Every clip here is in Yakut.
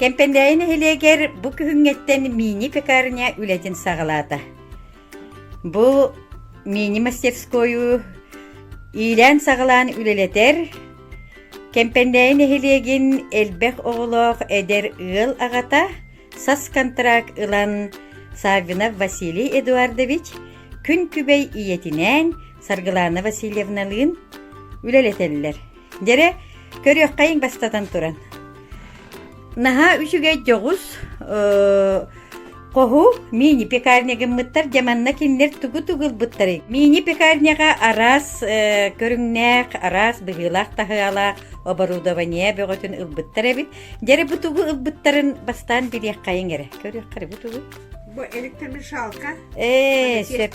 Кэмпэндээйи нэһилиэгэр бу күһүҥҥэттэн мини-пекарня үлэтин саҕалаата. Бу мини-мастерскойу иилээн-саҕалаан үлэлэтэр, Кэмпэндээйи нэһилиэгин элбэх оҕолоох эдэр ыал аҕата сас контракт ылан Саввинов Василий Эдуардович күн күбэй ийэтинээн Саргылаана Васильевналыын үлэлэтэллэр. Дьэрэ, көрүөххэйиҥ бастатан туран. Наһаа үчүгэй дьоҕус, хоһу мини-пекарня гыммыттар дьэ манна кинилэр тугу-тугу ылбыттары. Мини-пекарняга араас көрүҥнээх, араас быһыылаах таһыалаах оборудование бөҕөтүн ылбыттар эбит. Дьэрэ бу тугу ылбыттарын бастаан билиэххэйиҥ эрэ. Көрүөххэрэ бу тугу. Бу электромешалка. Ээ, сөп.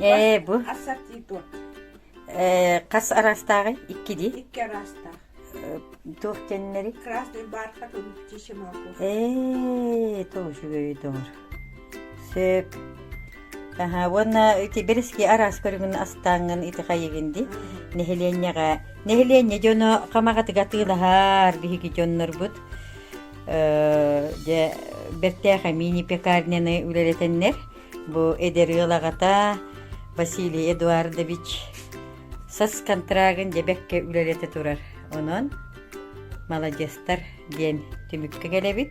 Ээ, бу ассортитут. Э, хас араастааҕы икки дии икки араастаах туох диэннэри красный бар хатун птичий молоко ээ тоже үөйдөр сөк аха уонна ити бэрэски араас көрүҥүн астааҥҥын ити хайыгын ди нэһилиэнньэҕэ нэһилиэнньэ дьоно хамаҕатыга тыылаһар биһиги дьоннорбут дьэ бэртээхэ мини пекарняны үлэлэтэннэр Бу эдэр ыал аҕата Василий Эдуардович сас контрагын дьэбэккэ үлэлэтэ турар. Онон маладьыстар диэн түмүккэ кэлэбит.